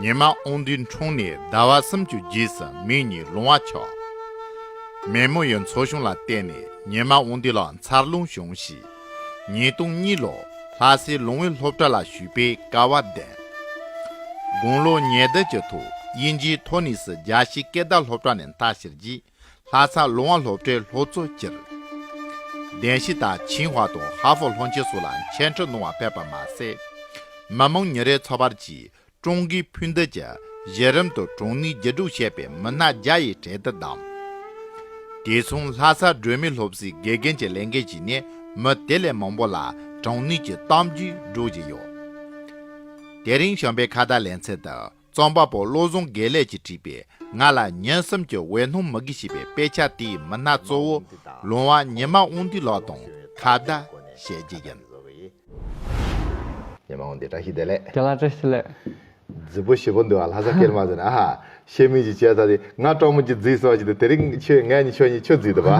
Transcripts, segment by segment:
ཉི་མ་ཨོང་དུས་འཁྲུངས་ནས་ཟླ་བ་སུམ་ཅུ་རྗེས་སུ་མིག་གཉིས་ལོང་བ་ཆགས། མེ་མོ་ཡི་འཚོ་བྱུང་ལ་བརྟེན་ནས་ཉི་མ་ཨོང་དུས་ལ་འཚར་ལོངས་བྱུང་གཤིས། ཉིས་སྟོང་གཉིས་ལོར་ལྷ་སའི་ལུང་བའི་སློབ་གྲྭ་ལ་ཞུགས་པའི་སྐལ་བ་ལྡན། དགུང་ལོ་ཉེར་བདུན་གྱི་ཐོག་དབྱིན་ཇིའི་ཐོ་ནིས་རྒྱ་ཤེས་སྐད་བརྡ་སློབ་གྲྭ་ནས་མཐར་ཕྱིར་རྗེས་ལྷ་ས་ལུང་བ་སློབ་གྲྭའི་ལྷོ་གཙོ་སྤྱིར་བདེན་བཞི་དང་ཆིང་ཧྭ་དང་ཧྭ་ཧྥོ་ལྷོ་མཆེད་སོགས་ལ་མཆན་འཕྲིན་གནང་བ་ཕེབས་པ་མ་ཟད། མི་མང་ཉིན་རེའི་འཚོ་བར་གྱི་ཀྲུང་གོའི་ཕུ་འདེད་ཀྱི་གཞི་རིམ་དུ་གྲངས་ནུས་བརྒྱད་དྲུག་བཤད་པའི་མི་སྣ་བརྒྱ་ཡི་གྲལ་དུ་བདམས། དེ་མཚུངས་ལྷ་ས་སྒྲོལ་མའི་སློབ་གསོའི་དགེ་རྒན་གྱི་ལས་འགན་བཞེས་ནས་མི་དེ་ལས་མང་པོ་ལ་གྲངས་ནུས་ཀྱི་གཏམ་རྒྱུད་སྒྲོག་བཞིན་ཡོད། དེ་རིང་གཞོན་པའི་ཁ་བརྡ་ལེན་ཚད་དུ། རྩོམ་པ་པོ་བློ་བཟང་དགེ་ལེགས་ཀྱིས་བྲིས་པའི་ང་ལ་ཉན་གསུམ་གྱི་འོད་སྣང་མི་དགེ་ཞེས་པའི་དཔེ་ཆ་དེའི་མི་སྣ་གཙོ་བོ་ལུང་བ་ཉི་མ་དབང་འདུས་ལགས་དང་ཁ་བརྡ་བྱས་རྗེས་ཡིན། ཉི་མ་དབང་འདུས་བཀྲ་ཤིས་བདེ་ལེགས། དགེ་ལགས་བཀྲ་ཤིས་ལེགས། རྫི་བོ་བཞི་པོ་འདུག་ཨ་ལྷ་ས་སྐྱེར་མ་ཟེར་ནས་ཨ་ཧ། ཤེས་མིན་གྱི་བྱས་ཚར་ཏེ་ང་གྲོགས་མོ་གྱི་རྫིས་སོགས་ཀྱི་དེ་རིང་ཁྱོད་ངེད་གཉིས་ཁྱོད་གཉིས་ཁྱོད་རྫིས་འདུག་བ།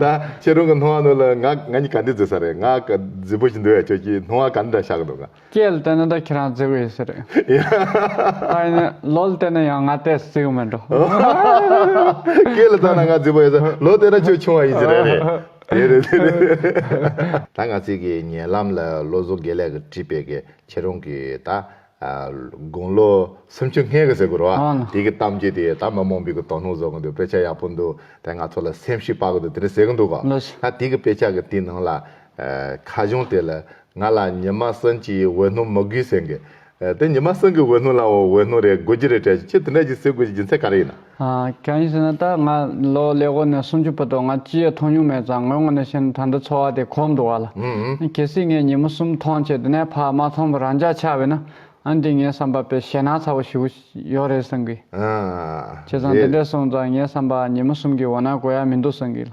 ད་ཁྱེད་རང་གི་སྣང་བ་ནོར་ལ་ང་ང་གཉིས་ག་འདི་རྫིས་ས་རེད་ང་ག་རྫི་བོ་བཞི་འདུག་བས་ཁྱོད་ཀྱིས་སྣང་བ་ག་འདི་འདྲ་བཞག་གི་འདུག་ག། སྐྱེས་བལྟས་ན་ད་ཁྱེད་རང་བརྫི་གི་ཡོད་ས་རེད། ད་ཡིན་ནའི་ལོ་བལྟས་ན་ཡང་ང་ལྟས་བརྫི་གི་མི་འགྲོ། སྐྱེས་ལ་བལྟས་ན་ང་བརྫི་བ་ཡོད་ས་རེད་ལོ་བལྟས་ན་ཁྱོད་ཆུང་བ་ཡིན་ས་རེད། དེ་རེད་དེ་རེད། ད་ང་ཚིག་གི་ཉེ་ལམ་ལ་བློ་བཟོ་དགེ་ལེགས་ཀྱི་བྲིས་པའི་གི་ཁྱེད་རང་གི་ད་དགུང་ལོ་སུམ་ཅུ་ལྔས་གི་ཟེར་གི་རོ། དེ་གི་གཏམ་རྒྱུད་དེ་ད་མི་མང་པོས་གི་དོ་སྣང་བཟོ་གི་འདུག་དཔེ་ཆ་ཡག་པོ་འདུག་དེ་ང་ཚོ་ལ་སེམས་ཤུགས་སྤར་གི་འདུག་དེ་འདྲ་ཟེར་གི་འདུག་གོ། ད་དེ་གི་དཔེ་ཆ་གི་དེ་ནང་ལ་ཁ་གཞུང་དེ་ལ་ང་ལ་ཉི་མ་སུན་གྱི་འོད་སྣུམ་མི་དགོས་ཟེར་གི། དེ་ཉི་མ་སུན་གྱི་འོད་སྣུམ་ལ་འོད་སྣུམ་རེ་དགོས་ཀྱི་རེད་དྲན་ཞིང་ཁྱེད་དེ་འདྲ་ཞིག་ཟེར་དགོས་ཀྱི་རྒྱུ་མཚན་ག་རེ་ཡིན་ན། གང་ཡིན་ཟེར་ན་ད་ང་ལོ་ལེགས་པོ་ནས་སུམ་ཅུ་བུད་དོ་ང་ཅི་ཡང་མཐོང་མྱོང་མེད་ཙང་ངོས་ངོ་ནས་བཤད་ན་ད་འདི་འཚོ་བ་དེ་གོམས་འགྲོ་བ་ལ། གལ་སྲིད་ངས་ཉི་མ་སུམ་མཐོང་ཆེད་དེ་ནས་ཕར་མ་མཐོང་བར་རང་འཇགས་ཆགས་བས་ན་ཨང་འདི་ངའི་བསམ་པ་པས་ཞེད་སྣང་ཚ་བོ་ཞིག་ཡོད་རེད་བསམ་གི། བྱས་ཙང་དེ་འདྲས་སོང་ཙང་ངའི་བསམ་པ་ཉི་མ་སུམ་གྱི་འོད་སྣང་གོ་ཡ་མི་འདུག་བསམ་གི་ལ།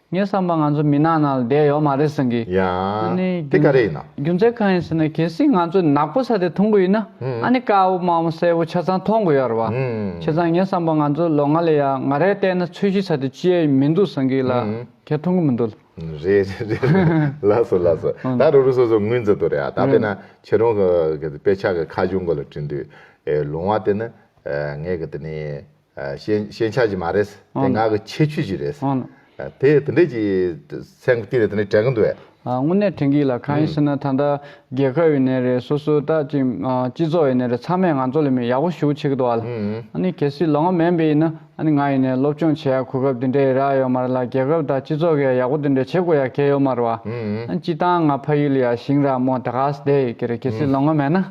ངས་བསམ་པར་ང་ཚོ་མི་ནག་ནང་ལ་བསྡད་ཡོད་མ་རེད་ཟེར་གི། ཡང། ཨ་ནི། དེ་ག་རེ་ཡིན་ན། རྒྱུ་མཚན་གང་ཡིན་ཟེར་ན་གལ་སྲིད་ང་ཚོས་ནག་པོ་ས་དེ་མཐོང་གི་ཡིན་ན་ཨ་ནི་དཀར་བོ་དམར་བོ་སེར་བོ་ཆ་ཚང་མཐོང་གི་ཡོད་རེད་བ། ཁྱེད་ཚང་ངས་བསམ་པར་ང་ཚོ་ལོ་ལྔ་ལས་ཡ་ང་རེ་བལྟས་ན་ཚོས་གཞི་ས་དེ་ཅི་ཡས་མི་འདུག་ཟེར་གི་ལ་ཁྱེད་མཐོང་གི་མི་འདུག་ལ། རེད་རེད་རེད་རེད་ལགས་སོ་ལགས་སོ་ད་རུ་རུ་སོ་སོ་ངོས་འཛིན་དུ་རེད་ཨ་ད་པེ་ན་ཁྱེད་རང་གི་དཔེ་ཆ་གི་ཁ་གཞུང་གི་ལ་བྲིས་འདུག་ལུང་བ་དེ་ནི་ངས་གི་དེ་ནི་ཤེས་བྱ་ཞིག་མ་རེད། དེ་ངག་གི་ཁྱད་ཆོས་ཤིག་རེད། དེ་དེ་འདྲས་ཀྱི་ཚན་བསྟུན་ནས་དེ་འདྲས་དྲན་གྱི་འདུག་བས། དངོས་གནས་དྲན་གྱི་ལ་གང་ཡིན་ཟེར་ན་ད་ལྟ་རྒྱལ་ཁབ་ཡོད་ནས་རེད་སོ་སོའི་ལྟ་ཅི་སྤྱི་ཚོགས་ཡོད་ནས་རེད་ཚང་མས་ང་ཚོ་ལ་མི་ཡག་པོ་ཞུ་ཆེ་གི་འདུག་བ་ལ་ཨ་ནི་གལ་སྲིད་ལོ་ངོ་མན་པའི་ཡིན་ན་ཨ་ནི་ང་ཡིན་ནས་སློབ་སྤྱོང་བྱེད་ཡག་གོ་སྐབས་དེ་འདྲས་རག་ཡོད་མ་རེད་ལ་རྒྱལ་ཁབ་དང་སྤྱི་ཚོགས་ཀྱི་ཡ་ཡག་པོ་དེ་འདྲས་བྱེད་དགོས་ཡག་གལ་ཡོད་མ་རེད་བ་ཨ་ནི་སྤྱི་བཏང་ང་ཕ་ཡུལ་ཡ་ཞིང་ར་མོ་དགའ་ས་དེ་ཡི་གི་རེད་གལ་སྲིད་ལོ་ངོ་མན་ན།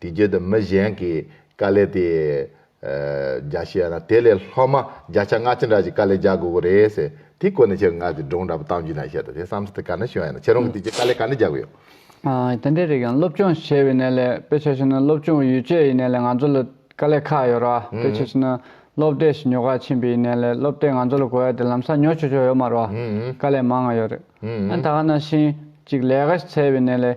དེ་བརྒྱུད་དུ་མི་གཞན་གྱིས་དཀའ་ལས་དེ་རྒྱག་ཤེས་ཡ་ན་དེ་ལས་ལྷག་མ་བརྒྱ་ཆ་ལྔ་ཅི་འདྲ་ཞིག་དཀའ་ལས་རྒྱག་དགོས་ཀྱི་རེད་ཟེར་དེའི་སྐོར་ནས་ཁྱེད་ངག་གི་སྒྲུང་འདྲ་པོ་གཏམ་རྒྱུད་ནང་བཤད་འདུག་དེ་བསམ་ཚུལ་དེ་ག་འདྲ་བྱུང་ཡ་ན་ཁྱེད་རང་གིས་དེ་རྗེས་དཀའ་ལས་ག་འདྲ་རྒྱག་གི་ཡོད། དེ་འདྲའི་རིགས་ཡང་སློབ་སྦྱོང་བྱས་པའི་གནས་ལས་དཔེ་ཆ་ཞིག་ནི་སློབ་སྦྱོང་ཡུལ་སྐྱོད་ཡི་གནས་ལས་ང་ཚོ་ལ་དཀའ་ལས་ཁག་ཡོད་རོགས་དཔེ་ཆ་ཞིག་ནི་སློབ་གྲྭའི་ཞིབ་ཉོ་ཁག་ཕྱིན་པའི་ཡི་གནས་ལས་སློབ་གྲྭས་ང་ཚོ་ལ་གོ་ཡ་དེ་ལམ་སང་ཉོ་ཆོག་ཆོག་ཡོད་མ་རོགས་དཀའ་ལས་མང་ང་ཡོད་རེད་ད་ག་ན་ཤིང་གཅིག་ལས་ག་ཞིག་འཚལ་བའི་གནས་ལས་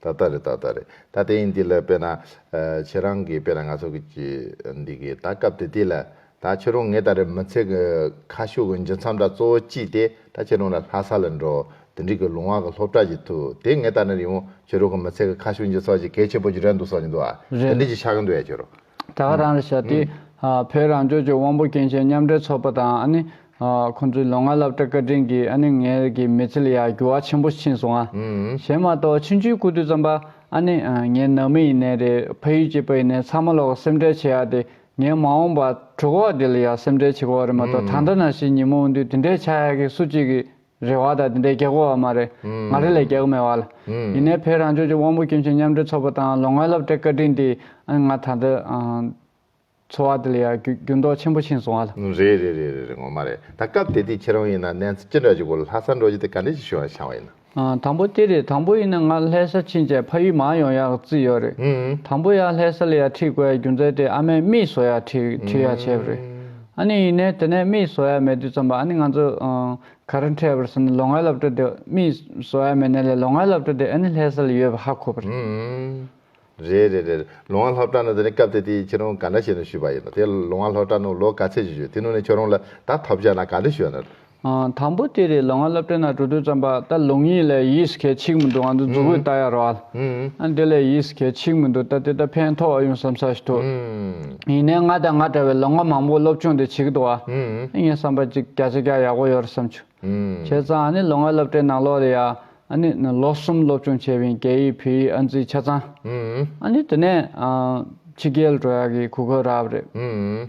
ད་ལྟ་རེད་ད་ལྟ་རེད་ད་ལྟ་ཡིན་འདི་ལ་དཔེར་ན། ཁྱེད་རང་གིས་དཔེར་ན་ང་ཚོ་གིས་འདི་གི་ད་སྐབས་དེ་དུས་ལ། ད་ཁྱེད་རང་ངེད་ད་རེ་མི་ཚེ་གི་ཁ་ཤོ་གི་འབྱུང་མཚམས་དག་གཙོ་བོ་ཅི་སྟེ་ད་ཁྱེད་རང་ལ་ལྷ་ས་ལ་འགྲོ། དེ་འགྲིག་གི་ལུང་བ་གི་སློབ་གྲྭ་ཞིག་ཐུག་དེ་ངེད་ད་ནི་རིང་བོ་ཁྱེད་རང་གི་མི་ཚེ་གི་ཁ་ཤོ་འབྱུང་ཚོགས་ཅིག་གལ་ཆེན་པོ་ཞིག་རེད་འདུག་བསམ་གྱི་འདུག་ཨ། དེ་འགྲིག་ཅིག་ཆགས་ཀྱི་འདུག་ཡ་ཁྱེད་རང། དེ་ག་རང་རེད་བྱ་དེ། བོད་རང་ལྗོངས་ཀྱི་དབང་པོ་སྐྱེ་མཆེད་མཉམ་འབྲེལ་ཚོགས་པ་དང་ཨ་ནི། ཁོང་ཚོའི་ལོ་ལྔ་བསླབ་གྲྭ་བཀའ་དྲིན་གྱིས་ཨ་ནི་ངའི་གི་མི་ཚེ་ལ་ཡང་འགྱུར་བ་ཆེན་པོ་ཕྱིན་སོང་ཨ། ཞེས་མ་གཏོགས་ཕྱི་འཇུའི་སྐུ་དུས་ཙམ་པ་ཨ་ནི། ངའི་ནང་མི་ཡིན་ནའི་རེད་ཕ་ཡུལ་གྱི་པ་ཡིན་ནའི་ཚང་མ་ལོག་གི་སེམས་ཁྲལ་བྱེད་ཡ་དེ་ངའི་མ་འོངས་པ། གྲུ་གོ་བ་དེ་ལ་ཡང་སེམས་ཁྲལ་བྱེད་གོ་བ་རེད་མ་གཏོགས་ད་ལྟ་ན་ཞིག་ཉིན་མོ་འོང་དུས་དེ་འདྲའི་ཆགས་ཡ་གི་སུ་གཅིག་གིས། རེ་བ་དང་དེ་འདྲའི་གེགས་བར་མ་རེད། ང་རེ་ལས་གེགས་མེད་བར། ཡིན་ནའི་བོད་རང་ལྗོངས་ཀྱི་དབང་པོ་སྐྱོན་ཅན་མཉམ་འབྲེལ་ཚོགས་པ་དང་ལོ་ལྔའི་བསླབ་གྲྭའི་བཀའ་དྲིན་དེས་ཨ་ང་ད་ལྟ་འཚོ་བ་དེ་ལ་ཡང་འགྱུར་ལྡོག་ཆེན་པོ་ཕྱིན་སོང་བར། རེད་རེད་རེད་རེད་རེད་ངོ་མ་རེད་ད་སྐབས་དེ་དུས་ཁྱེད་རང་ཡིན་ན་གནས་ཚུལ་ཅི་འདྲ་ཞིག་གོ་ལ་ལྷ་སར་འགྲོ་རྒྱུ་དེ་ག་འདྲ་ཞིག་བྱུང་བ་བྱང་བ་ཡིན་ན། དང་པོ་དེ་རེད་དང་པོ་ཡིན་ན་ང་ལྷས་ས་ཕྱིན་རྗེས་ཕ་ཡུལ་མང་ཡོང་ཡག་བརྩིས་ཡོད་རེད་དང་པོ་ཡང་ལྷས་ས་ལ་ཡང་ཁྲིད་དགོས་ཡག་རྒྱུ་མཚན་དེ་ཨ་མས་མིས་བཟོ་ཡག་ཁྲིད་ཁྲིད་ཡག་བྱས་པ་རེད། ཨཱ་ནི་ཡིན་ནས་དེ་ནས་རྨིས་བཟོ་ཡ་མེད་དུས་འཚམས་པ་ཨཱ་ནི་ང་ཚོ། ག་རེ་འཕྲད་པར་སོང་ནས་ལོ་ལྔའི་སློབ་གྲྭ་དེ་རྨིས་བཟོ་ཡ་མེད་ནས་ལས་ལོ་ལྔའི་སློབ་གྲྭ་དེ་ཨཱ་ནི་ལྷས་ས་ལ་ཡོད་པ་ཧ་གོ་བ་རེད། རེད་རེད་རེད་ལོ་ལྔ་སློབ་གྲྭ་ནང་དེ་ནས་སྐབས་དེ་དེ་ཁྱེད་རང་ག་འདྲ་བྱས་ནས་ཞུས་པ་ཡིན་ནོ་དེ་ལོ་ལྔ་སློབ་གྲྭ་ནང་ལོ་ག་ཚད་ཅིག་ཞུས་དེ་ནང་ནས་ཁྱོད་རང་ལ་ད་ཐོབ་བྱ་ན་ག་འདྲ་ཞུས་ཡ་ན། དང་པོ་དེ་རེད་ལོ་ང་སློབ་གྲྭའི་ནང་འགྲོ་དུས་བརྩམས་པ་ད་ལུང་ཡིན་ལས་ཡིས་གལ་ཆིག་མི་འདུག་ང་ཚོ་རྫུ་བོས་ལྟ་ཡ་རོགས་ཨ་འདི་ལས་ཡིས་གལ་ཆིག་མི་འདུག་ད་དེ་ད་ཕན་ཐོག་ཨ་ཡུང་བསམ་ས་ཞིག་ཐུག་ཡིན་ནའི་ང་དང་ང་འདྲ་བའི་ལོ་ང་མང་པོ་སློབ་ཆུང་དེ་བྱིས་ཀྱི་འདུག་ཨ་ངས་བསམ་པ་ཅིག་བརྒྱ་ཆ་བརྒྱ་ཡག་པོ་ཡོད་རེད་བསམ་ཆུ་བྱས་ཙང་ཨ་ནི་ལོ་ང་སློབ་གྲྭའི་ནང་ལོ་རེ་ཡ་ཨ་ནི་ལོ་གསུམ་སློབ་ཆུང་བྱས་བའི་རྒྱ་ཡིག་བོད་ཡིག་ཨ་འཛིན་ཆ་ཚང་ཨ་ནི་དེ་ནས་ཕྱི་རྒྱལ་འགྲོ་ཡག་གི་གུ་གུ་རག་རེད།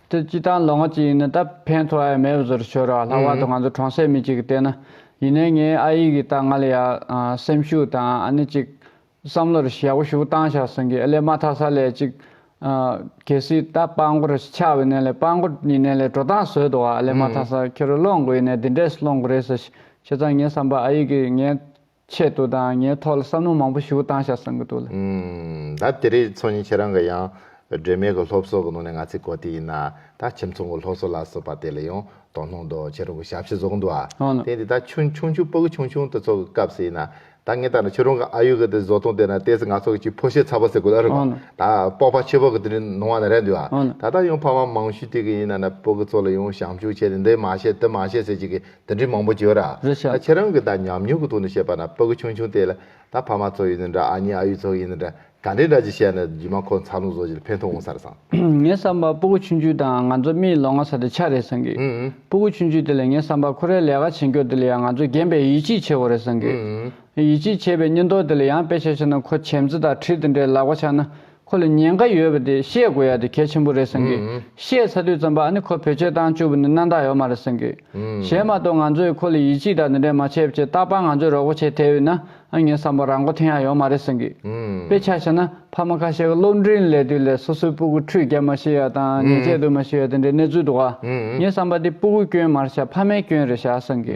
དེ་སྤྱི་དང་ལོ་ངོ་གཅིག་ཡིན་ན་ད་ཕན་ཐོགས་ཨེ་མེད་བཟོ་རུ་ཆོད་ར་ལྷག་པར་དུ་ང་ཚོ་གྲོང་གསེབ་མི་གཅིག་གི་ལྟས་ན། ཡིན་ནའི་ངའི་ཨ་ཡིག་གིས་ད་ང་ལ་ཡ། སེམས་ཤུགས་དང་ཨ་ནི་གཅིག། བསམ་བློ་རེ་ཞེ་བོ་ཞུ་བཏང་བཞག་གསུང་གི་ཨེ་ལས་མ་ཐག་ས་ལས་གཅིག། གལ་སྲིད་ད་དཔང་མགོ་རེ་ཆག་བའི་ནས་ལས་དཔང་མགོ་ཡིན་ནས་ལས་འགྲོ་སྟངས་བཟོས་འདུག་ཨ་ལས་མ་ཐག་ས་ཁྱེད་རུ་སློང་དགོས་ཡིན་ནས་འདི་འདྲས་སུ་སློང་དགོས་རེད་ཟེར་ཞེས་ཙང་ངས་བསམ་པ་ཨ་ཡིག་གིས་ངའི། ཆེད་དུ་དང་ངའི་ཐོག་ལ་བསམ་བློ་མང་པོ་ཞུ་བཏང་བཞག་བསམ་གི་འདུག་ལ། ད་དེ་རིང་ཚོགས་གཉིས་ཁྱེད་རང་གི་ཡང་སྒྲོལ་མའི་གི་སློབ་གསོ་གི་ནང་ནས་ང་ཚོའི་གོ་དེ་ཡིན་ན་ད་ཁྱིམ་ཚང་གི་སློབ་གསོ་ལ་སོགས་པ་དེ་ལ་ཡང་དོ་སྣང་འདུག་ཁྱེད་རང་གི་ཞབས་ཕྱི་བཟོ་གི་འདུག་ཨ། དེ་ཡིན་དུས་ད་ཆུང་ཆུང་ཆུང་སྤུ་གི་ཆུང་ཆུང་དེ་ཚོ་གི་སྐབས་སུ་ཡིན་ན་ད་ངས་ལྟ་ན་ཁྱེད་རང་གི་ཨ་ཡུ་གི་དེ་བཟོ་སྟངས་དེ་ན་དེ་སི་ང་ཚོ་གི་ཅིག་ཕོ་ཤེ་ཚ་བ་ཟེར་དགོས་ཨ་རེད་མ་ད་སྤོགས་པ་ཆེ་བ་གི་དེ་རིང་ནང་བ་ན་རེད་འདུག་ཨ་ད་ལྟ་ཡང་ཕ་མ་མང་ཤོས་དེ་གི་ཡིན་ན་ན་སྤུ་གི་ཚོ་ལ་ཡང་བྱང་ཆུབ་བྱས་ཏེ་འདི་མ་བྱེད་དེ་མ་བྱེད་ཟེར་ཅིག་གི་དེ་འདྲའི་མང་པོ་བྱོས་ར། རེ་བྱ། ད་ཁྱེད་རང་གིས་ད་ཉམས་མྱོང་གི་ཐོག་ནས་བཤད་པ་ན་ཕ་གི་ཆུང་ཆུང་དེ་ལ་ད་ཕ་མ་ཚོ་ཡིན་ནི་འདྲ་ཨ་མྱེ་ཨ་ཡུ་ཚོ་ཡིན་ནི་འདྲ་ག་འདྲའི་འདྲ་ཅི་བཤད་ན་རྒྱུས་མ་ཁོ་འཚར་ལོངས་བཟོ་བྱེད་ལ་ཕན་ཐོག་འོང་ས་རེད་བསམ། ངས་བསམ་པ་སྤུ་གུ་ཆུང་ཆུང་དང་ང་ཚོ་རྨིའི་ལོ་ང་ས་དེ་ཆ་རེད་བསམ་གི། སྤུ་གུ་ཆུང་ཆུང་དེ་ལས་ངས་བསམ་པ་ཁོ་རའི་ལས་ཀ་བྱེད་མགྱོགས་དེ་ལས་ཡང་ང་ཚོ་རྒན་པས་ཡིད་ཆེས་ཆེ་བོ་རེད་བསམ་གི། ཡིད་ཆེས་ཆེ་བའི་སྙིང་སྟོབས་དེ་ལས་ཡང་དཔེ་ཆ་ཆགས་ན་ཁོ་བྱེམས་རྩེ་དང་ཁྲིད་དེ་འདྲའི་ལག་པ་ཆགས་ན་ཁོ་ལ་ཉེན་ཁ་ཡོད་པ་དེ་ཤེས་དགོས་ཡ་དེ་གལ་ཆེན་པོ་རེད་བསམ་གི། ཤེས་ཚ་དུས་བརྩམས་པ་ཨ་ནི་ཁོ་བོད་ཆས་བཏང་བཅུག་པ་ནི་གནའ་རྟགས་ཡོད་མ་རེད་བསམ་གི། གཞན་མ་གཏོགས་ང་ཚོ་ཡི་ཁོ་ལ་ཡིད་ཆེས་དང་འདི་འདྲས་མ་བྱས་པ་ཆེ་རྟག་པར་ང་ཚོས་རོགས་པ་བྱས་ཐལ་ཡོད་ན་ཨ་ངའི་བསམ་པར་རང་མགོ་ཐེན་ཡ་ཡོད་མ་རེད་བསམ་གི། དཔེ་ཆ་བྱས་ན་ཕ་མ་ཁ་ཤས་ཀ་སློབ་འབྲིང་ལས་དུས་ལས་སོ་སོའི་སྤུ་གུ་ཁྲུས་བརྒྱབ་མ་ཤེས་ཡ་དང་ཉལ་ཆས་སྡོད་མ་ཤེས་ཡ་དེ་འདྲའི་གནས་ཚུལ་འདུག་ཨ་ངའི་བསམ་པར་དེ་སྤུ་གུའི་སྐྱོན་མར་བྱ་ཕ་མའི་སྐྱོན་རེད་བྱ་བསམ་གི།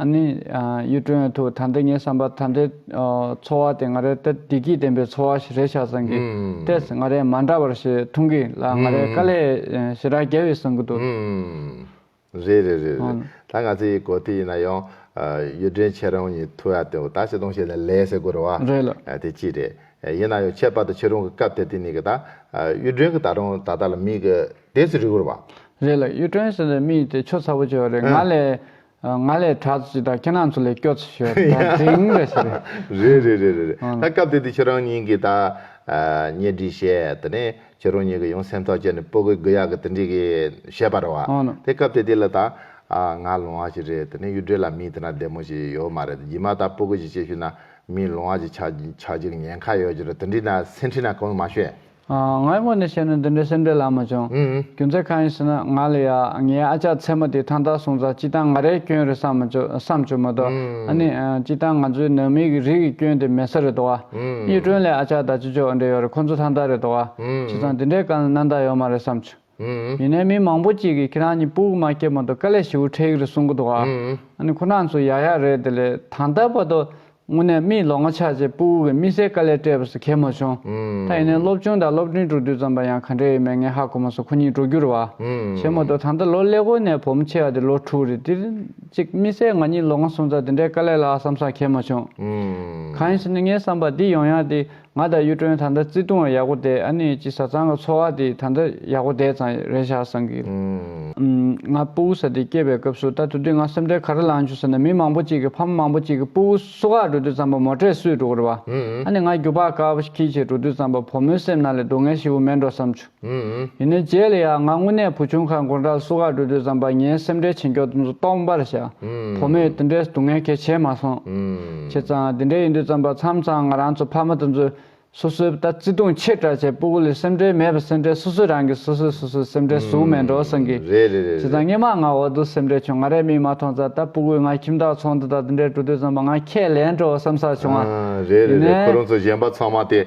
ཨ་ནི། གཡུ་སྒྲོན་ཨ་ཐུག་ད་འདི་ངའི་བསམ་པར་ད་འདི། འཚོ་བ་དེ་ང་རའི་ཏེ་བདེ་སྐྱིད་ལྡན་པའི་འཚོ་བ་ཞིག་རེད་ཤག་བཟང་གི། ཏེས་ང་རའི་མ་འདྲ་བར་ཞེས་ཐུང་གི་ལ་ང་རའི་དཀའ་ལས་ཞེ་དྲག་རྒྱལ་བས་བཟང་གི་འདུག། རེད་རེད་རེད་རེད་ད་ང་ཚོའི་གོ་ཐོས་ཡིན་ན་ཡང། གཡུ་སྒྲོན་ཁྱེད་རང་གཉིས་ཐུག་ཡ་དེ་འོ་ད་བྱེད་དོང་བྱེད་ནས་ལས་ཟེར་དགོས་རེད་བ། རེད་ལ། དེ་ཅི་རེད། ཡིན་ན་ཡང་ཁྱད་པར་དུ་ཁྱེད་རང་གི་སྐབས་དེ་དེ་ནི་གི་ད། གཡུ་སྒྲོན་གི་ད་རང་ད་ལྟ་ལ་མིག་གི་དེ་ཚོ་རིག་གོ་རེད་བ། རེད་ལ་གཡུ་སྒྲོན་ཟེར་ནས་མིག་དེ་ཆོ་ཚ་པོ་བྱེད་བ་རེད་ང་ལས། ང་ལས་གྲགས་ཚོ་ཅིག་དང་ཁྱེད་རང་ཚོ་ལས་སྐྱོ་ཚོ་ཞིག་རེད་ད་དེང་རེད་ཞེས་རེད། རེད་རེད་རེད་རེད་རེད་ད་སྐབས་དེ་དུས་ཁྱེད་རང་གཉིས་ཀྱིས་ད་ཉེ་སྒྲིག་བྱས་དེ་ནས་ཁྱེད་རང་གཉིས་ཀྱིས་ཡང་སེམས་ཐག་བཅད་ནས་སྤོ་གི་གུ་ཡག་གི་དེ་འདྲིས་གི་བྱས་པ་རེད་བ། དེ་སྐབས་དེ་དུས་ལ་ད་ང་ལོང་བ་ཞིག་རེད་དེ་ནས་གཡུ་སྒྲོལ་ལ་མི་དེ་ན་བདེ་མོ་ཞིག་ཡོད་མ་རེད་དེ་རྗེས་མ་ད་སྤོ་གི་ཞིག་བྱས་ཤུལ་ན་མི་ལོང་བ་ཞིག་ཆགས་ཆགས་ཅིག་ཉེན་ཁ་ཡོད་ཅིག་རེད་དེ་འདྲིས་ན་སེམས་ཁྲིད་ན་གང་ཡང་མ་ཤོད། ང་ཡི་ངོ་ནས་བཤད་ན་འདི་འདྲའི་སེམས་ཁྲལ་ལ་མ་བྱུང། རྒྱུ་མཚན་གང་ཡིན་ཟེར་ན་ང་ལ་ཡ་ངའི་ཨ་ཅག་མཚན་མོ་དེ་ཐང་ཐང་སོང་ཙང་སྤྱི་བཏང་ང་རའི་སྐྱོན་རེད་བསམ་མ་བསམ་བྱུང་མ་གཏོགས་ཨ་ནི། སྤྱི་བཏང་ང་ཚོའི་ནང་མི་གི་རིགས་ཀྱི་སྐྱོན་དེ་མེད་ས་རེད་དོ། གཉིས་སྤྲོན་ལས་ཨ་ཅག་དང་ཅི་ཅོག་འདྲེ་ཡོད་རེད་ཁོང་ཚོ་ཐང་ཐང་རེད་དོ། བྱས་ཙང་འདི་འདྲའི་སྐལ་ལ་གནང་ད་ཡོད་མ་རེད་བསམ་བྱུང། ཡིན་ནའི་མི་མང་པོ་གཅིག་གིས་ཁྱེད་རང་གཉིས་པུའུ་མ་སྐྱེལ་མ་ཏོ་ཀ་ལས་ཞིའུ་ཁྲེག་རེད་གསུང་གི་འདུག་ཨ་ནི་ཁོ་ནག་ཚོ་ཡག་ཡག་རེད་དེ་ལས་དང་ད་བར་དུ་དངོས་གནས་མིའི་ལོ་ངོ་ཆགས་རྗེས་པུའུ་གི་དམིགས་བསལ་ཀ་ལས་སྤྲད་པ་སུ་ཁས་མ་བྱུང་ད་ཡིན་ནའི་སློབ་ཆུང་དང་སློབ་འབྲིང་དཀྲུག་དུས་ཙམ་པ་ཡང་ག་འདྲས་ཡོད་མེད་ངས་ཧ་གོ་མ་སོང་ཁོ་གཉིས་དཀྲུག་རྒྱུར་བ་བྱེད་མ་ཏོ་ད་ལྟ་ལོ་ཀླད་ཀོར་ནས་བོ་མོ་ཆེ་བ་དེ་ལོ་དྲུག་རེད་དེར་གཅིག་དམིགས་བསལ་ང་གཉིས་ལོ་ང་སུམ་རྩ་དེ་འདྲའི་ཀ་ལས་ལ་བསམ་སང་ཁས་མ་བྱུང་གང་ཡིན་ཟེར་ནས་ངའི་བསམ་པ་འདི་ཡོང་ཡག་དེ། ང་དང་གཡུ་སྒྲོན་ད་ལྟ་བརྩེ་དུང་བ་ཡག་པོ་བསྡད་ཨ་ནེ་ཅི་བཟའ་ཚང་གི་འཚོ་བ་དེ་ད་ལྟ་ཡག་པོ་བསྡད་ཙང་རེད་བཞག་བསམ་གི། ང་སྤུ་བོ་ཟ་དེ་སྐྱེས་པའི་སྐབས་སུ་ད་དུ་དུས་ང་སེམས་ཁྲལ་ག་རེ་ལངས་བྱུང་ཟེར་ན་མི་མང་པོ་གཅིག་གི་ཕ་མ་མང་པོ་གཅིག་གི་སྤུ་བོ་སུ་ཁག་འགྲོ་དུས་ཙམ་པ་མོ་ཁྲལ་སུས་སྒྲུག་གི་རེད་བ། ཨ་ནེ་ང་རྒྱུག་པ་དཀའ་བ་ཞིག་ཁྱིད་ཀྱིས་སྒྲུག་དུས་ཙམ་པ་བུ་མོའི་སེམས་ནང་ལས་སྡུག་བསྔལ་ཞིག་བུ་མེད་འགྲོ་བསམ་བྱུང། ཡིན་ནོ་རྗེས་ལ་ཡང་ང་དངོས་གནས་བུ་ཆུང་ཁ་མགོ་འདྲ་སུ་ཁ་འགྲོ་དུས་བསམ་པ་ངའི་སེམས་ཁྲལ་ཆེ་མགྱོགས་དུ་སྟོང་པར་བྱ། བུ་མོས་དེ་འདྲའི་སྡུག་བསྔལ་གལ་ཆེ་མ་སོང། བྱས་ཙང་དེ་འདྲའི་ཡིན་དུས་བརྩམས་པ་མཚམས་ཚང་ང་རང་ཚོ་ཕ་མ་དང་ཚོས་སོ་སོའི་ལྟ་བརྩི་དུང་ཕྱིར་དྲག་བྱས་སྤུ་གུ་ལས་སེམས་ཁྲལ་མེད་པར་སེམས་ཁྲལ་སོ་སོས་རང་གི་སོ་སོས་སོ་སོའི་སེམས་ཁྲལ་ཟུག་མེད་འགྲོ་བསམ་གི། བྱས་ཙང་སྙན་མང་ང་འོག་ཏུ་སེམས་ཁྲལ་བྱུང་ང་རས་མིག་མ་མཐོང་ཙང་ད་སྤུ་གུས་ང་ཁྱིམ་བདག་ཚོང་འདི་དང་དེ་འདྲའི་འགྲོ་དུས་བརྩམས་པ་ང་ཁས་ལེན་འགྲོ་བསམ་ས་བྱུང་བ། ཡིན་ནའི།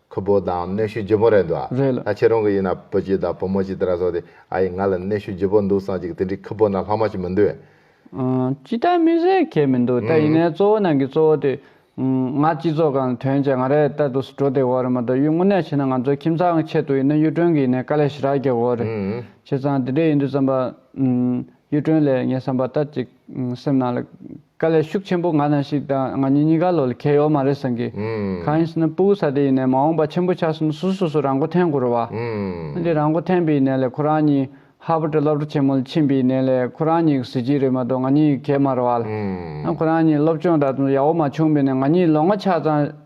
ཁུ་བོ་དང་གནོད་ཤུགས་ལྗིད་པོ་རེད་འདུག་རེད་ལ། ད་ཁྱེད་རང་གི་ཡིན་ན་བུ་གཅིག་དང་བུ་མོ་གཅིག་དེ་ར་སོགས་དེ་ཨ་ཡེ་ང་ལ་གནོད་ཤུགས་ལྗིད་པོ་འདུག་སང་ཅིག་དེ་འདྲའི་ཁུ་བོ་ན་ལྷག་མ་ཞིག་མི་འདུག། ཅི་ལྟར་མི་ཟེར་ཁྱད་མི་འདུག་ད་ཡིན་ནའི་གཙོ་བོ་ནང་གི་གཙོ་བོ་དེ། ང་སྤྱི་ཚོགས་ཁང་དོན་བྱས་ང་རེད་ལྟ་འདུག་འགྲོ་བདེ་བོ་རེད་མ་གཏོགས་གཡུ་སྔོ་ནས་ཕྱིན་ན་ང་ཚོའི་ཁྱིམ་ཚང་གི་ཆེད་དུ་ཡིན་ན་གཡུ་སྒྲོན་གྱི་ཡིན་ནའི་དཀའ་ལས་ཞེ་དྲག་རྒྱག་དགོས་རེད། བྱས་ཙང་དེ་འདྲས་ཡིན་དུས་བསམ་པ། གཡུ་སྒྲོན་ལས་ངས་བསམ་པ་ལྟར་ཅིག། སེམས་ནང་ལ་དཀའ་ལས་ཤུགས་ཆེན་པོ་ང་དང་ཤིག་དང་ང་གཉིས་གཉིས་ཀ་ལོ་ལ་ཁྱད་ཡོད་མ་རེད་སེང་གེ། གང་ཡིན་ཟེར་ན་སྤུ་བོ་ས་དེ་ཡིན་ནས་མ་འོངས་པ་ཆེན་པོ་ཆགས་ཟིན་ན་སུ་སོ་སོ་རང་མགོ་འཐེན་དགོས་རོ་བ། འདི་རང་མགོ་འཐེན་པའི་གནས་ལས་ཁོ་རང་གཉིས་ཧར་བོར་དུ་སློབ་གྲ་ཆེན་མོ་ལ་ཕྱིན་པའི་གནས་ལས་ཁོ་རང་གཉིས་ཀྱི་གཟི་བརྗིད་རེད་མ་གཏོགས་ང་གཉིས་ཀྱི་གད་མ་རོ་བ་ལ། ཁོ་རང་གཉིས་སློབ་སྤྱོང་ད་དུང་ཡག་བོ་མ་བྱུང་བས་ནས་ང་གཉིས་ལོ་ལྔ་ཆགས་ཙང།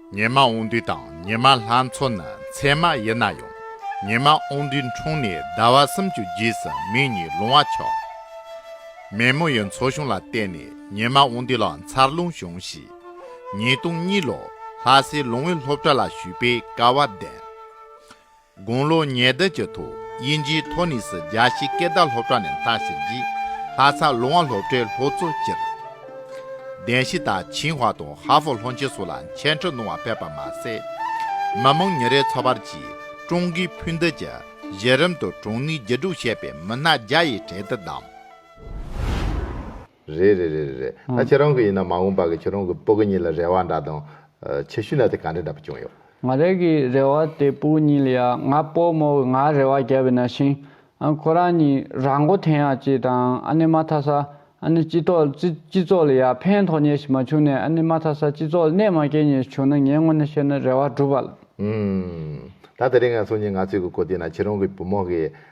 ཉི་མ་འོང་དུས་དང་ཉི་མ་ལྷ་མཚོ་ནི་མཚན་མ་ཡིན་ན་ཡང་ཉི་མ་འོང་དུས་འཁྲུངས་ནས་ཟླ་བ་སུམ་ཅུ་རྗེས་སུ་མིག་གཉིས་ལོང་བ་ཆོག། མེ་མོ་ཡི་མཚོ་གཞུང་ལ་བལྟས་ནས་ཉི་མ་འོང་དུས་ལ་མཚར་རླུང་བྱུང་ཞེས་ཉིས་སྟོང་གཉིས་ལོར་ལྷ་སའི་ལུང་བའི་སློབ་གྲྭ་ལ་ཞུས་པའི་སྐལ་བ་ལྡན། དགུང་ལོ་ཉེར་བདུན་གྱི་ཐོག་དབྱིན་ཇིའི་ཐོ་ནིས་རྒྱ་ཆེའི་སྐད་བརྡ་སློབ་གྲྭ་ནས་མཐར་ཕྱིན་རྗེས་ལྷ་ས་ལུང་བ་སློབ་གྲྭའི་ལྷོ་གཙོ་སྤྱིར་བདེན་ཞི་དང་ཆིང་ཧྭ་དང་ཧྭ་ཧྥོ་ལྷོ་ཆེན་སོགས་ལ་མཆན་འཕྲིན་གནང་བ་ཕེབས་པ་མ་ཟད། མི་མང་ཉིན་རེའི་འཚོ་བར་གྱིས་ཀྲུང་གོའི་ཕུ་འདེད་ཀྱི་གཞི་རིམ་དུ་གྲོང་མིའི་རྒྱུ་དྲུག་ཞེས་པའི་མི་སྣ་བརྒྱ་ཡི་གྲལ་དུ་བདམས། རེད་རེད་རེད་རེད་ད་ཁྱེད་རང་གི་ཡིན་ན་མ་འོངས་པ་གི་ཁྱེད་རང་གི་སྤུ་གི་གཉིས་ལ་རེ་བ་འདྲ་དང། ཆེ་ཤོས་ན་དེ་ག་འདྲ་འདྲ་པོ་བྱུང་ཡོད། ང་རེ་གི་རེ་བ་དེ་སྤུ་གཉིས་ལ་ཡ་ང་སྤོ་མོ་གི་ང་རེ་བ་བརྒྱབ་ཡོད་ན་ཤིང་ཨ་ཁོ་རང་གཉིས་རང་མགོ་ཐེན་ཡག་ཅིག་དང་ཨ་ནི་མ་ཐ་ས་ཨ་ནི་སྤྱི་ཐོག་སྤྱི་ཚོགས་ལ་ཡ་ཕན་ཐོག་ཉེ་ཞིག་མ་བྱུང་ནས་ཨ་ནི་མ་ཐ་ས་སྤྱི་ཚོགས་ལ་གནད་མ་སྐྱེལ་ཉེ་ཞིག་བྱུང་ན་ངའི་ངོ་ནས་བཤད་ན་རེ་བ་འགྲུབ་བ་ལ། ཨུམ། ད་དེ་རིང་ང་ཚོ་གཉིས་ང་ཚོས་གི་གོ་དེ་ན་ཁྱེད་རང་གི་བུ་མོ་གི།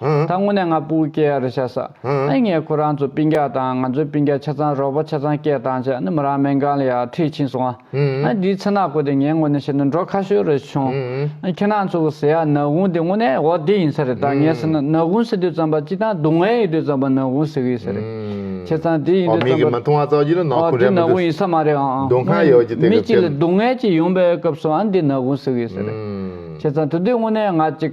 ད་དངོས་གནས་ང་སྤུ་གུ་སྐྱེ་ཡ་རེད་བྱས་ས་ཨེ་ངས་ཁོ་རང་ཚོ་སྤིན་རྒྱ་དང་ང་ཚོའི་སྤིན་རྒྱ་ཆ་ཚང་རོགས་པ་ཆ་ཚང་སྐྱེས་དང་བྱས་ནི་མོ་རང་མེན་གང་ལ་ཡར་འཁྲིད་ཕྱིན་སོང་ཨ་འདིའི་ཚེ་ནག་གོ་དེ་ངའི་ངོ་ནས་བཤད་ན་འགྲོ་ཁ་ཤོས་རེད་བྱུང་ཨ་ཁྱེད་རང་ཚོ་གི་ཟེ་ཡ་ནག་གུང་དེ་དངོས་གནས་འོ་དེ་ཡིན་ས་རེད་ད་ངས་ཟེར་ན་ནག་གུང་ཟེར་དུས་ཙམ་པ་སྤྱི་སྟངས་སྡུག་བསྔལ་ཡིན་དུས་ཙམ་པ་ནག་གུང་ཟེར་གི་ཡིན་ས་རེད་ཁྱེད་ཚང་དེ་ཡིན་དུས་ཙམ་པ་འོ་འདི་ནག་གུང་ཡིན་ས་མ་རེད་ཨང་དངོས་མི་གཅིག་ལ་སྡུག་བསྔལ་གཅིག་ཡོང་པའི་སྐབས་སུ་ཨ་འདི་ནག་གུང་ཟེར་གི་ཡིན་ས་རེད་ཁྱེད་ཚང་དུ་དེ་དངོས་གནས་ང་གཅིག།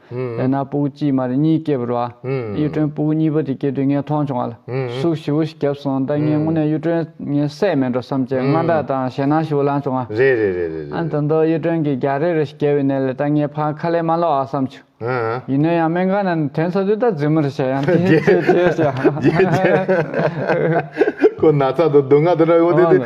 ལས་སྣ་སྤུ་གུ་གཅིག་མ་རེ་གཉིས་སྐྱེས་བུར་བ། གཡུ་སྒྲོན་སྤུ་གུ་གཉིས་པ་དེ་སྐྱེས་དུས་ངས་མཐོང་བྱུང་བ་ལ། ཟུག་བཞི་བོ་ཞིག་བརྒྱབ་སོང་ད་ངས་དངོས་གནས་གཡུ་སྒྲོན་ངའི་སྲས་མེད་འགྲོ་བསམ་བྱས་དངངས་སྐྲག་དང་ཞེད་སྣང་ཞི་བོ་ལངས་བྱུང་ང། རེད་རེད་རེད་རེད་རེད་རེད། དོན་ཏོ་གཡུ་སྒྲོན་གྱིས་རྒྱགས་རེ་རེ་ཞིག་བརྒྱབ་པའི་གནས་ལས་ད་ངས་ཕར་ཁ་ལས་མ་ལོག་ཨ་བསམ་བྱུང། ཡིན་ན་ཡང་སྨན་ཁང་ན་དོན་ཚ་དུས་ད་རྫུན་མ་རེ་བཤད་ཡང་དེའི་ཚེ་རྗེས་ཤོད། རྗེས་ཤོད། ཁོ་ན་ཚ་དང་སྡུག་བསྔལ་དུ་ར་ཡོང་དུས་དེ།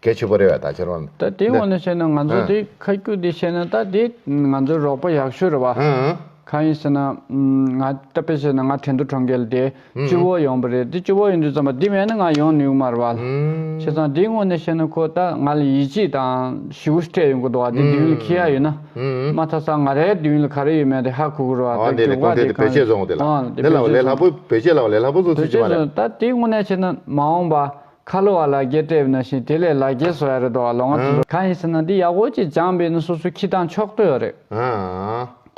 སྐད་ཆོད་པོ་རེད་བ་ད་ཁྱེར་བ། ད་དེའི་འོག་ན་བཤད་ན་ང་ཚོ་དེ་ཁ་སྐྱུག་དེ་བཤད་ན་ད་དེ་ང་ཚོའི་རོགས་པ་ཡག་ཤོས་རེད་བ། གང་ཡིན་ཟེར་ན། ང་ད་དཔེ་བཤད་ན་ང་དྲན་དུ་གྲོང་ཁྱེར་དེ་སྤྱི་བོ་ཡོང་པོ་རེད་དེ་སྤྱི་བོ་ཡོང་དུས་ཙམ་པ་དེ་མེད་ན་ང་ཡོང་ནུས་གི་མ་རེད་བ། བྱས་ཙང་དེའི་ངོས་ནས་བཤད་ན་ཁོ་ད་ང་ལ་ཡིད་ཆེས་དང་ཞི་བོ་སྤྲད་ཡོང་གི་འདུག་བ་དེ་དུས་ཡུན་ལ་ཁེལ་ཡག་ཡོད་ན། མ་མཐའ་ས་ང་རའི་དུས་ཡུན་ལ་ག་རེ་ཡོད་མེད་དེ་ཧ་གོ་གི་རེད་བ་དེ་འགྱུར་བག་དེ་གང་ཡིན། འོང། དེ་བོད་ཆས་བཟུང། བོད་ཆས་ལ་བ་ལས་ལྷག་པོ་བཟུང་སྲིད་ཀྱི་མ་རེད། བོད་ཆས་བཟུང་ད་དེའི་ངོས་ནས་བཤད་ན་མ་འོང་བ། ཁ་ལོ་བ་ལ་རྒྱས་སྤྲས་པའི་ན་བཞིན་དེ་ལས་ལ་རྒྱས་བཟོ་ཡ་རེད་དོ་བ་ལོང་བ་དེ། གང་ཡིན་ཟེར་ན་འདི་ཡག་པོ་ཅིག་སྦྱངས་པས་ནི་སོ་སོའི་ཁྱི་དང་ཕྱོགས་ལྟོས་རེད།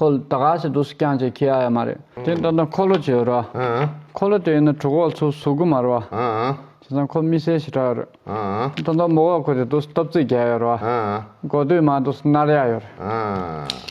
ཁོ་ལོ་ད་ག་ཟེར་འདུག་སུ་ཀྱང་ཅིག་ཁྱི་ཡ་ཡ་མ་རེད། དེ་ལྟ་ན་ཁོ་ལོ་ཅེས་རོ། ཁོ་ལོ་དེ་ཡིན་ན་དྲུག་འོག་ཚུགས་བཟོ་དགོས་མ་རོ། དེ་ཚང་ཁོ་མི་སེར་ཞེ་དྲག་རེད། ད་ལྟ་མོ་བ་ཁོ་དེ་འདུག་སྟབས་རྩིས་རྒྱག་ཡ་རོ། མགོ་སྟོད་མ་འདུག་སུ་ནར་ཡ་ཡོད་རེད།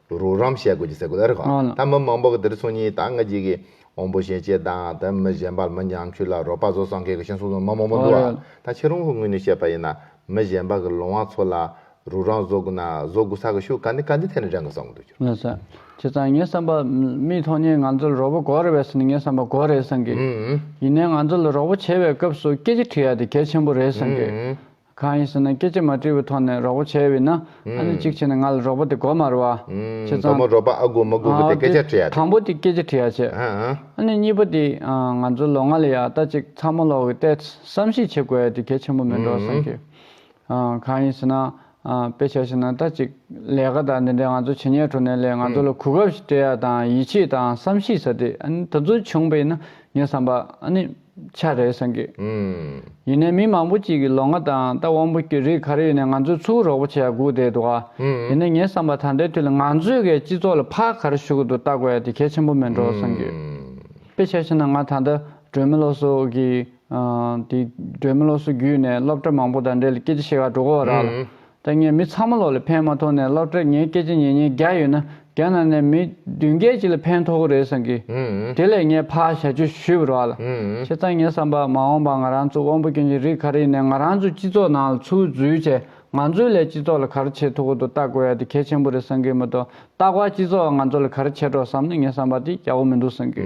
རོགས་རམ་བྱེད་དགོས་ཀྱི་ཟེར་དགོས་ལ་རེད་གོ་ད་མི་མང་པོ་གི་དེར་སོང་ཉིན་ད་ང་གཅིག་གི་འོང་བོ་ཞེན་ཆེད་དང་ད་མི་གཞན་པ་མི་འགྱངས་ཁྱུད་ལ་རོགས་པ་བཟོ་སང་གེ་གི་ཤེན་སོང་སོང་མི་མང་པོ་འདུག་ཨ་ད་ཁྱེད་རང་ཧུ་ངོས་ནས་བཤད་པ་ཡིན་ན་མི་གཞན་པ་གི་ལོང་བ་ཚོ་ལ་རོགས་རམ་བཟོ་དགོས་ན་བཟོ་དགོས་ས་གི་ཤུ་ག་འདི་ག་འདི་ཐད་ནས་དྲན་དགོས་ས་གོ་འདུག་ཁྱོད་རང་ལ་ཁྱེད་ཚང་ངའི་བསམ་པ་མིའི་ཐོག་ནས་ང་ཚོ་ལ་རོགས་པོ་གོ་རེ་བས་ནི་ངའི་བསམ་པ་གོ་རེད་སང་གེ་ཡིན་ནའི་ང་ཚོ་ལ་རོགས་པོ་བྱེད་པའི་སྐབས་སུ་སྐད་ཅིག་ཐུག་ཡ་དེ་གལ་ཆེན་པོ་རེད་སང་གེ་གང་ཡིན་ཟེར་ན་སྐད་ཅིག་མ་དྲིལ་བུའི་ཐོག་ནས་རོགས་པོ་བྱེད་འོས་ན་ཨ་ནི་གཅིག་བྱས་ནས་ང་ལ་རོགས་པོ་དེ་གོ་མ་རུ་ཨ། ཁྱེད་ཚང། མདོ་མོ་རོགས་པ་ཨ་དགོས་མ་དགོས་པོ་དེ་སྐད་ཆ་དྲི་ཡ་དེ། དང་པོ་དེ་སྐད་ཆ་དྲི་ཡ་བྱས། ཨ་ནི་གཉིས་པ་དེ། ང་ཚོ་ལོ་ལྔ་ལ་ཡག་ལྟ་ཅིག་ཚ་མོ་ལོག་གི་ཏེ། བསམ་གཞིག་བྱེད་དགོས་ཡ་དེ་གལ་ཆེན་པོ་མིན་འགྲོ་བསམ་གི། གང་ཡིན་ཟེར་ན། དཔེ་ཆ་ཞིག་ན་ལྟ་ཅིག་ལས་ཀ་དང་འདི་འདྲའི་ང་ཚོ་བྱེད་ཉལ་འགྲོ་ནས་ལས་ང་ཚོ་ལ་གོ་སྐབས་ཤིག་སྤྲད་ཡ་དང་ཡིད་ཆེས་དང་བསམ་གཞིག་ས་དེ་ཨ་ནི་ད་གཟོད་བྱུང་བས་ན་ངས་བསམ་པ་ཨ་ནི། ཆ་རེད་གསུངས་གི། ཡིན་ནའི་མི་མང་པོ་གཅིག་གིས་ལོ་ང་དང་རྟ་བོང་བུ་སྐྱུར་རིགས་ག་རེ་ཡོད་ནས་ང་ཚོས་ཚུར་རོགས་པོ་བྱས་ཡ་སྒུག་བསྡད་འདུག་ཨ། ཡིན་ནའི་ངས་བསམ་པ་ད་ལྟའི་དུས་ལ་ང་ཚོས་གའི་སྤྱི་ཚོགས་ལ་ཕག་ག་རེ་ཞུ་གི་འདུག་བལྟ་དགོས་ཡ་དེ་གལ་ཆེན་པོ་མིན་འགྲོ་གསུངས་གི། དཔེ་ཆ་ཤེས་ན་ང་ད་ལྟ་སྒྲོལ་མི་ལོ་སོ་གི། དེ་སྒྲོལ་མི་ལོ་སོ་བརྒྱུད་ནས་སློབ་གྲྭ་མང་པོ་དང་འབྲེལ་སྐད་ཆ་བཤད་ག་འགྲོ་གོ་ར་ལ། ད་ངས་མི་ཚང་མ་ལོག་ལེ་ཕན་མ་ཐོག་ནས་སློབ་གྲྭར་ངའི་སྐད་ཆ་ཉན་ཉན་རྒྱག་ཡོད་ན་རྒྱ་ནག་ནས་མི་བདུན་བརྒྱད་ཅིག་ལ་ཕན་ཐོག་གི་རེད་བསམ་གི། དེ་ལས་ངས་ཕ་ཞལ་བཅོས་ཞུས་པར་བ་ལ། ཁྱེད་ཚང་ངས་བསམ་པ་མ་འོངས་པ་ང་རང་ཚོ་དབང་པོ་སྐྱོན་ཅན་རིགས་ག་རེ་ཡིན་ནས་ང་རང་ཚོའི་སྤྱི་ཚོགས་ནང་ལ་ཚུར་འཛུལ་བྱས་ང་ཚོའི་ལས་སྤྱི་ཚོགས་ལ་ག་རེ་བྱེད་ཐུབ་གོ་ཏོ་བལྟ་དགོས་ཡ་དེ་གལ་ཆེན་པོ་རེད་བསམ་གི་མ་ཏོ་བལྟ་བར་སྤྱི་ཚོགས་ང་ཚོ་ལ་ག་རེ་བྱེད་རོགས་བསམ་ན་ངས་བསམ་པ་དེ་རྒྱག་གོ་མི་འདུག་བསམ་གི།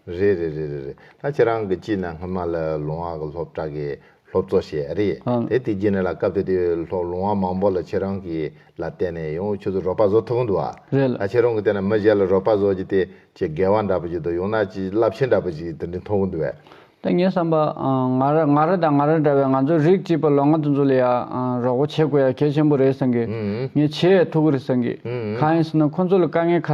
རེད་རེད་རེད་རེད་རེད་ད་ཁྱེད་རང་གི་སྤྱི་ནང་སྔོན་མ་ལ་ལུང་བ་གི་སློབ་གྲྭ་གི་སློབ་གཙོ་ཞེས་རེད་དེ་དེ་རྗེས་ནས་ལ་སྐབས་དེ་དུས་སློབ་ལུང་བ་མང་པོ་ལ་ཁྱེད་རང་གི་ལ་བལྟས་ནས་ཡང་ཁྱོད་ཚོ་རོགས་པ་བཟོ་ཐུབ་གི་འདུག་ཨ་རེད་ལ་ད་ཁྱེད་རང་གི་བལྟས་ན་མི་གཞན་ལ་རོགས་པ་བཟོ་རྒྱུ་དེ་ཆེས་དགེ་བ་འདྲ་པོ་ཞིག་འདུག་ཡང་ན་ཆེས་རླབས་ཆེན་འདྲ་པོ་ཞིག་དེ་འདྲའི་མཐོང་གི་འདུག་བས། ད་ངས་བསམ་པ་ང་ར་ང་ར་དང་ང་ར་འདྲ་བའི་ང་ཚོ་རིགས་གཅིག་པ་ལོ་ང་དེ་ཚོ་ལ་ཡ་རོགས་པ་བྱེད་དགོས་ཡ་གལ་ཆེན་པོ་རེད་བསམ་གི་ངས་ཆེས་ཐུགས་ཁུར་བསམ་གི་གང་ཡིན་ཟེར་ན་ཁོ་ཚོ་ལ་དཀའ་ངལ་ཁ་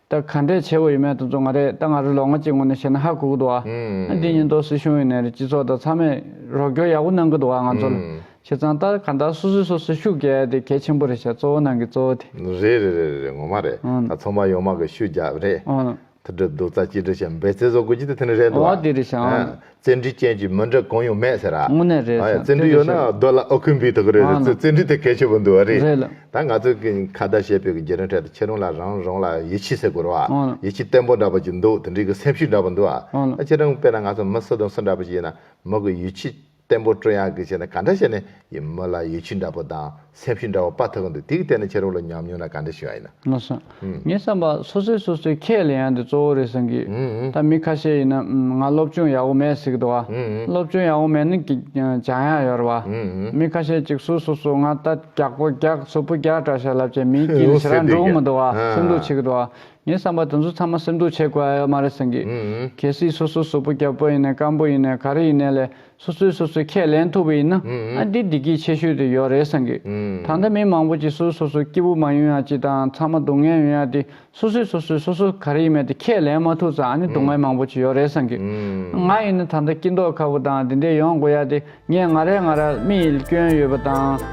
ད་ག་འདྲའི་ཆེ་བོ་ཡིན་མེད་དུ་བཙོང་བ་རེད་ད་ང་རི་ལོ་ལྔ་གཅིག་སྔོན་ནས་བཤད་ན་ཧ་གོ་གི་འདུག་ཨ་འདི་ཉིན་ཏོག་སྲིད་གཞུང་ཡིན་ནས་རེད་སྤྱི་ཚོགས་དང་ཚང་མས་རོགས་སྐྱོར་ཡག་པོ་གནང་གི་འདུག་ང་ཚོ་ལ་བྱས་ཙང་ད་ག་འདྲ་སོ་སོས་སོ་སོའི་ཤུགས་རྒྱག་ཡ་དེ་གལ་ཆེན་པོ་རེད་བྱས་གཙོ་བོ་ནང་གི་གཙོ་བོ་དེ། རེད་རེད་རེད་རེད་ངོ་མ་རེད་ད་ཚོང་པ་ཡོངས་མང་གི་ཤུགས་རྒྱག་རེད་ཐུགས་སྒྲུབ་སྡུག་རྩ་གཅིག་སྒྲིལ་བྱས་འབད་བརྩེ་བཟོ་དགོས་རྒྱུ་དེ་དེ་ནི་རེད་འདུག་ཨ་འོ་དེ་རེད་བྱས་ཨ། བཙན་གྲི་ཅན་གྱི་མི་འདྲ་གང་ཡང་མེད་ཟེར། དངོས་གནས་རེད་བསམ་བཙན་གྲི་ཡོད་ན་རྡོ་ལ་ཨོ་ཁུ་འབུས་ཐུབ་ཀྱི་རེད་རེད་བཙན་གྲི་དེ་གལ་ཆེ་པོ་འདུག་རེད་རེད་ལ། ད་ང་ཚོས་ཁ་བརྡ་བྱེད་པའི་རྒྱུ་རིང་ཁྲོད་དུ་ཁྱེད་རང་ལ་རང་རང་ལ་ཡིད་ཆེས་ཟེར་དགོས་རོགས་ཨང་ལ། ཡིད་ཆེས་བརྟན་པོ་འདྲ་པོ་ཞིག་འདུག་དེ་འདྲའི་གི་སེམས་ཤུགས་འདྲ་པོ་འདུག་ཨ། ཨང་ལ། ད་ཁྱེད་རང་དཔེར་ན་ང་ཚོ་མི་སུ་དང་སུ་འདྲ་པོ་ཞིག་ཡིན་ན་མི་གི་ཡིད་ཆེས་བརྟན་པོ་སྤྲོད་ཡག་གི་བྱས་ན་ག་འདྲ་བྱས་ནས་ཡི་མི་ལ་ཡི་ཆུ་འདྲ་པོ་དང་སེམས་ཤུགས་འདྲ་བོ་དཔའ་ཐུབ་གི་འདུག་དེའི་ཐད་ནས་ཁྱེད་རང་ལོ་ཉམས་མྱོང་ན་ག་འདྲ་ཞིག་ཨ་ཡིན་ན། ངོ་སོང། ངའི་བསམ་པར་སོ་སོས་སོ་སོའི་ཁྱད་ལས་ཡང་འདི་གཙོ་བོ་རེད་བསམ་གི། ད་མི་ཁ་ཤས་ཡིན་ན་ང་སློབ་སྦྱོང་ཡག་པོ་མེད་ཟེར་གི་འདུག་ཨ། སློབ་སྦྱོང་ཡག་པོ་མེད་ན་གི་བྱང་ཡག་ཡོད་རེད་བ། མི་ཁ་ཤས་ཀྱིས་སུ་སོ་སོ་ང་ལྟ་རྒྱག་པོ་རྒྱག་སོ་པོ་རྒྱག་དྲག་ཤ་ལབ་ཅེས་མིའི་དཀྱིལ་ནས་ཟེར་ར་འགྲོ་གི་མི་འདུག་ཨ་སེམས་སྡུག་བྱེད་གི་འདུག་ཨ། ངའི་བསམ་པར་དེ་ཚོ་ཚང་མ་སེམས་སྡུག་བྱེད་དགོས་ཨ་ཡོད་མ་རེད་བསམ་གི། གལ་སྲིད་སོ་སོ་སོ་པོ་རྒྱབ་པོ་ཡིན་ནས་སྐམ་པོ་ཡིན་ནས་ག་རེ་ཡིན་ནས་ལས་སོ་སོས་སོ་སོའི་ཁས་ལེན་ཐུབ་པ་ཡིན་ན་ཨ་འདི་འདི་སྐྱིད་ཆེ་ཤོས་དེ་ཡོད་རེད་བསམ་གྱི། ད་ལྟ་མི་མང་པོ་ཅིག་སོ་སོ་སོ་སྐྱིད་པོ་མ་ཡོང་ཡང་ཅི་དང་ཚང་མ་སྡུག་བསྔལ་ཡོང་ཡ་དེ་སོ་སོས་སོ་སོས་སོ་སོ་ག་རེ་ཡིན་མེད་དེ་ཁས་ལེན་མ་ཐུབ་ཙང་ཨ་ནི་སྡུག་བསྔལ་མང་པོ་ཅིག་ཡོད་རེད་བསམ་གྱི། ང་ཡིན་ན་ད་ལྟ་སྐྱིད་མདོག་ཁ་པོ་དང་དེ་འདྲས་ཡོང་དགོས་ཡ་དེ་ངས་ང་རེ་ང་ར་རྨིས་ཡིད་སྐྱོན་ཡོད་པ་དང།